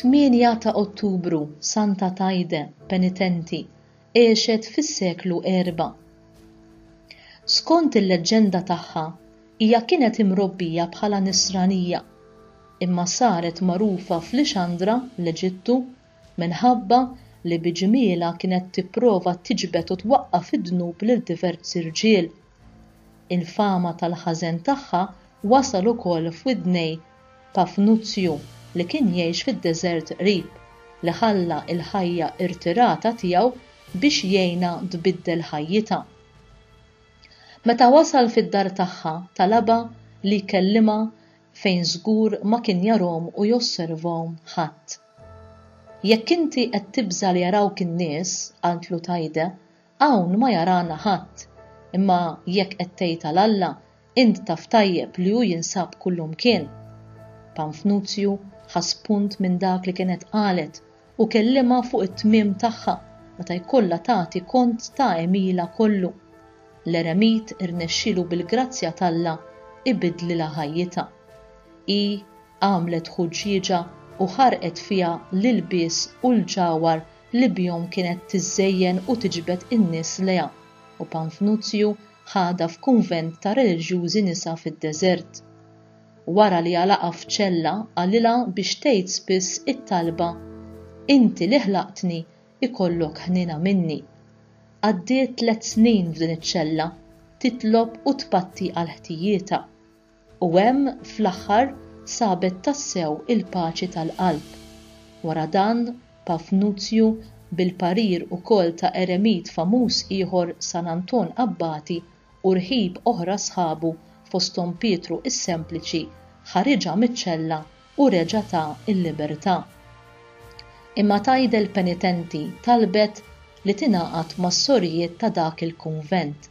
Tmienja ta' Ottubru, Santa Tajde, penitenti, għexet fis-seklu erba'. Skont il-leġġenda tagħha, hija kienet imrobbija bħala Nisranija, imma saret magħrufa f'Lixandra, l-Eġittu, minħabba li bi ġmielha kienet tipprova tiġbed u twaqqaf fid-dnub lil diversi rġiel. Il-fama tal-ħażen tagħha wasal ukoll f'widnej Pafnuzju li kien jgħix fid-deżert qrib, li ħalla l-ħajja irtirata tiegħu biex jgħinha tbiddel ħajjitha. Meta wasal fid-dar tagħha, talabha li jkellimha fejn żgur ma kien jarahom u josservahom ħadd. Jekk inti qed tibża' li jarawk in-nies, qaltlu Taide, hawn ma jarana ħadd, imma jekk qed tgħid għal Alla, int taf tajjeb li hu jinsab kullimkien. Panfnuzju ħa spunt minn dak li kienet qalet u kellimha fuq it-tmiem tagħha meta jkollha tagħti kont ta' għemilha kollu. L-eremit irnexxielu bil-grazzja t'Alla jbiddlilha ħajjitha. Hi għamlet ħuġġieġa u ħarqet fiha l-ilbies u l-ġawhar li bihom kienet tiżżejjen u tiġbed in-nies lejha, u Panfnuzju ħadha f'kunvent ta' reliġjużi nisa fid-deżert. Wara li għalaqha f'ċella qalilha biex tgħid spiss it-talba, Inti li ħlaqtni, ikollok ħniena minni. Għaddiet tliet snin f'din iċ-ċella, titlob u tpatti għal ħtijietha. U hemm fl-aħħar sabet tassew il-paċi tal-qalb. Wara dan, Pafnuzju, bil-parir ukoll ta' eremit famuż ieħor San Anton Abbati u rħib oħra sħabu fosthom Pietru s-Sempliċi, ħariġha miċ-ċella u reġa' ta l-libertà. Imma tgħidel penitenti talbet li tingħaqad mas-sorijiet ta' dak il-kunvent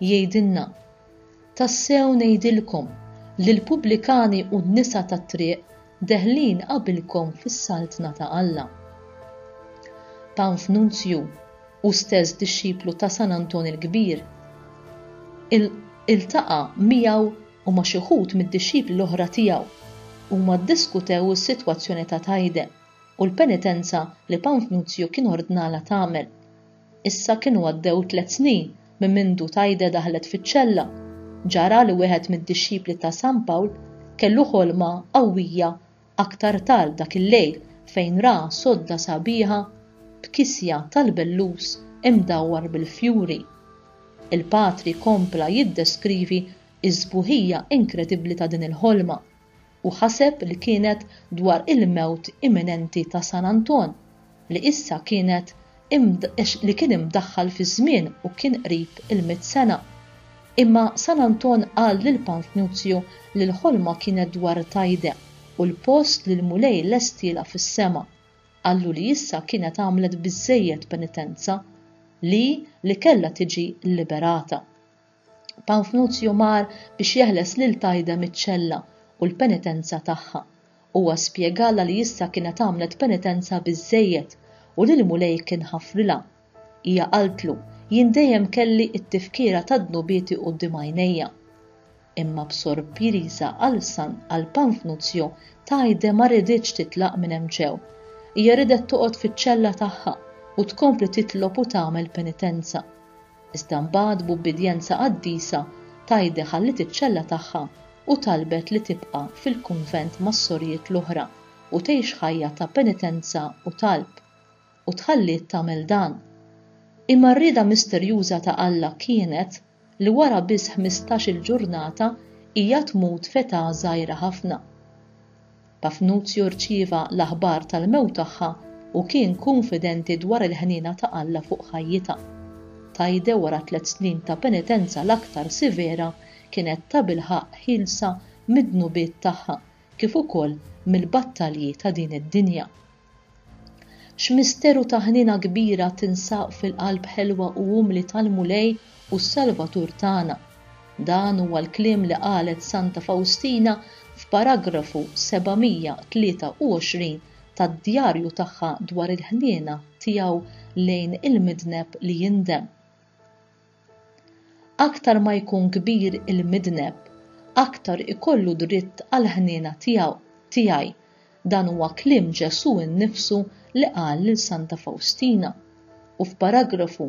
Jgħidilna, Tassew ngħidilkom li l-pubblikani u n-nisa tat-triq deħlin qabilkom fis-Saltna ta' Alla. Panfnunzju, hu stess dixxiplu ta' San Anton il-Kbir, iltaqa' miegħu u ma' xi wħud mid-dixxipli l-oħra tiegħu. Huma ddiskutew is-sitwazzjoni ta' Tajde u l-penitenza li Panfnunzju kien ordnalha tagħmel. Issa kienu għaddew tliet snin minn mindu Taide daħlet fiċ-ċella. Ġara li wieħed mid-dixxipli ta' San Pawl kellu ħolma qawwija aktar tard dak il-lejl fejn ra sodda sabiħa b'kisja tal-bellus imdawwar bil-fjuri. Il-patri kompla jiddeskrivi s-sbuħija inkredibbli ta' din il-ħolma. u ħaseb li kienet dwar il-mewt imminenti ta' San Anton li issa kienet li kien imdaħħal fiż-żmien u kien qrib il-mitt sena. Imma San Anton qal lil Pantnuzju li l-ħolma kienet dwar Tajde u l-post li l-Mulej lestielha fis-sema. Qallu li issa kienet għamlet biżżejjed penitenza, li li kellha tiġi liberata. Panfnuzju mar biex jeħles lil Tajde miċ-ċella u l-penitenza tagħha. Huwa spjegalha li issa kienet għamlet penitenza biżżejjed u li l-Mulej kien ħafrilha. Hija qaltlu, Jien dejjem kelli t-tifkira tad-dnubieti quddiem għajnejja. Imma b'sorpriża għal San għal Panfnuzju, Tajde ma riditx titlaq minn hemm ġew. Hija ridet toqgħod fiċ-ċella tagħha u tkompli titlob u tagħmel penitenza. Iżda mbagħad b'ubbidjenza qaddisa Thaide ħalliet iċ-ċella tagħha u talbet li tibqa' fil-kunvent mas-sorijiet l-oħra u tgħix ħajja ta' penitenza u talb. U tħalliet tagħmel dan. Imma r-rieda misterjuża ta' Alla kienet li wara biss ħmistax-il ġurnata hija tmut f'età żgħira ħafna. Pafnuzju rċieva l-aħbar tal-mewt tagħha u kien kunfidenti dwar il-ħniena ta' Alla fuq ħajjitha. Taide wara tliet snin ta' penitenza l-aktar sivera kienet tabilħaqq ħielsa mid-dnubiet tagħha kif ukoll mill-battalji ta' din id-dinja. X'misteru ta' ħniena kbira tinsab fil-qalb ħelwa u umli tal-Mulej u s-Salvatur tagħna! Dan huwa l-kliem li qalet Santa Fawstina f'paragrafu 723 tad-djarju tagħha dwar il-ħniena tiegħu lejn il-midneb li jindem. Aktar ma jkun kbir il-midneb, aktar ikollu dritt għall-ħniena tiegħu, tiegħi, dan huwa kliem Ġesù nnifsu li qal lil Santa Fawstina. U f'paragrafu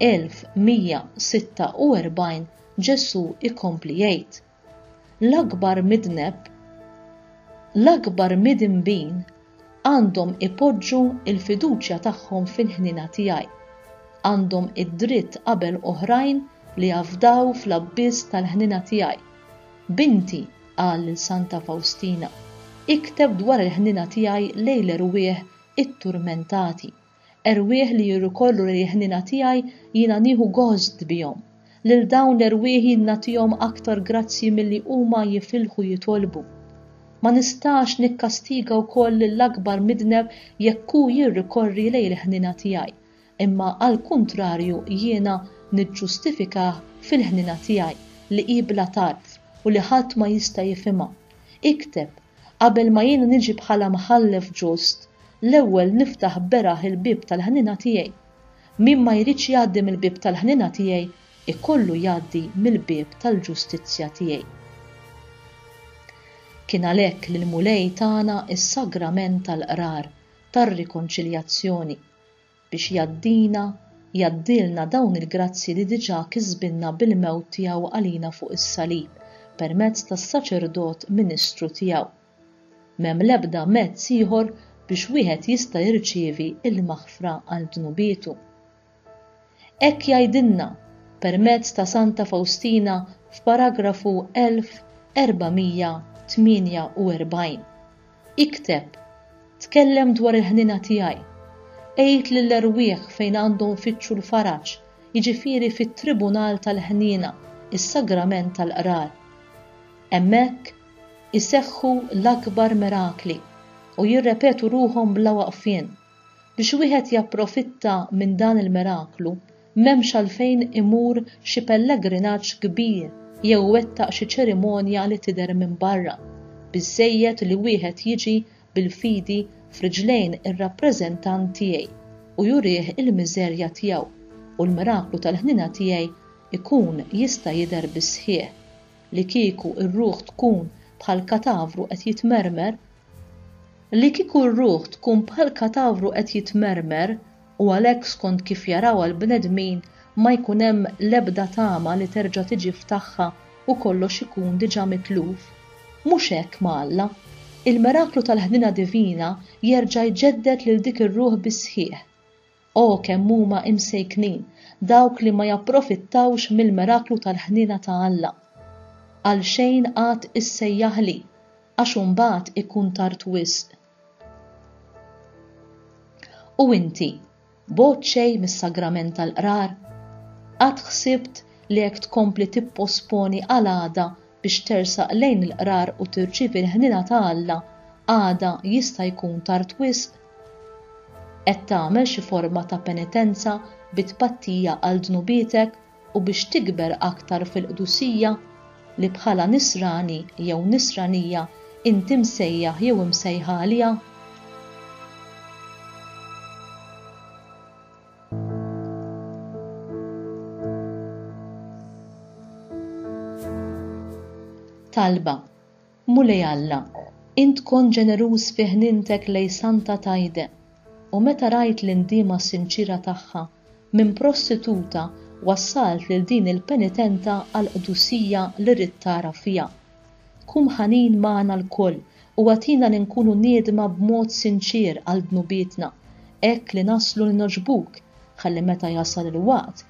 1146 Ġesù jkompli jgħid. L-akbar midneb, l-akbar midinbin għandhom ipoġġu l-fiduċja tagħhom fil-ħniena tiegħi. Għandhom id-dritt qabel oħrajn li jafdaw fl-abbiss tal-ħniena tiegħi. Binti, qal lil Santa Fawstina, ikteb dwar il-ħniena tiegħi lejn l-erwieħ itturmentati Erwieħ li jirrikorru lejn il-ħniena tiegħi jiena nieħu gost bihom. Lil dawn l-erwieħ jien nagħtihom aktar grazzji milli huma jifilħu jitolbu. Ma nistax nikkastiga wkoll lill-akbar midneb jekk hu jirrikorri lejn il-ħniena tiegħi, imma għall-kuntrarju jiena niġġustifikah fil-ħniena tiegħi li hi bla tarf u li ħadd ma jista' jifhimha. Ikteb, Qabel ma jien niġi bħala mħallef ġust, l-ewwel niftaħ beraħ il-bieb tal-ħniena tiegħi. Min ma jridx jgħaddi mill-bieb tal-ħniena tiegħi, ikollu jgħaddi mill-bieb tal-ġustizzja tiegħi. Kien għalhekk li l-Mulej tana s-sagrament tal-qrar tar-rikonċiljazzjoni, biex jgħaddina, jgħaddilna dawn il-grazzji li diġà kisbilna bil-mewt tiegħu għalina fuq is-salib permezz tas-saċerdot ministru tiegħu. M'hemm l-ebda mezz ieħor biex wieħed jista' jirċievi l-maħfra għal dnubietu. Hekk jgħidilna, permezz ta' Santa Fawstina f'paragrafu 1448. Ikteb, tkellem dwar il-ħniena tiegħi. Għid lill-erwieħ fejn għandhom ifittxu l-faraġ, jiġifieri fit-tribunal tal-ħniena, is-sagrament tal-qrar. Hemmhekk iseħħu l-akbar mirakli u jirrepetu ruħhom bla waqfien. Biex wieħed japprofitta minn dan il-miraklu, M'hemmx għalfejn imur xi pellegrinaġġ kbir jew iwettaq xi ċerimonja li tidher minn barra. Biżżejjed li wieħed jiġi bil-fidi f'riġlejn ir-rappreżentant tiegħi u jurih il-miżerja tiegħu, u l-miraklu tal-ħniena tiegħi jkun jista' jidher bis-sħiħ. Li kieku r-ruħ tkun bħal katavru qed jitmermer! Li kieku r-ruħ tkun bħal katavru qed jitmermer! u għalhekk skont kif jarawha l-bnedmin ma jkun hemm l-ebda tama li terġa' tiġi f'tagħha u kollox ikun diġà mitluf. Mhux hekk ma' Alla. Il-miraklu tal-ħniena divina jerġa' jġedded lil dik ir-ruħ bis-sħiħ. O kemm huma imsejknin dawk li ma japprofittawx mill-miraklu tal-ħniena ta' Alla! Għalxejn għad issejjaħli, għax imbagħad ikun tard wisq. U inti, bogħod xejn mis-sagrament tal-qrar, qatt ħsibt li hekk tkompli tipposponi għal għada biex tersaq lejn il-qrar u tirċievi l-ħniena ta' Alla, għada jista' jkun tard wisq? Qed tagħmel xi forma ta' penitenza bi tpattija għal dnubietek? u biex tikber aktar fil-qdusija li bħala Nisrani jew Nisranija inti msejjaħ jew imsejħa għaliha? Talba Mulej Alla, int kont ġeneruż fi ħnientek lejn Santa Tayde, u meta rajt l-indiema sinċiera tagħha, minn prostituta wassalt lil din il-penitenta għall-qdusija li ridt tara fiha. Kun ħanin magħna lkoll u agħtina li nkunu niedma b'mod sinċier għal dnubietna, hekk li naslu li nogħġbuk, ħalli meta jasal il-waqt,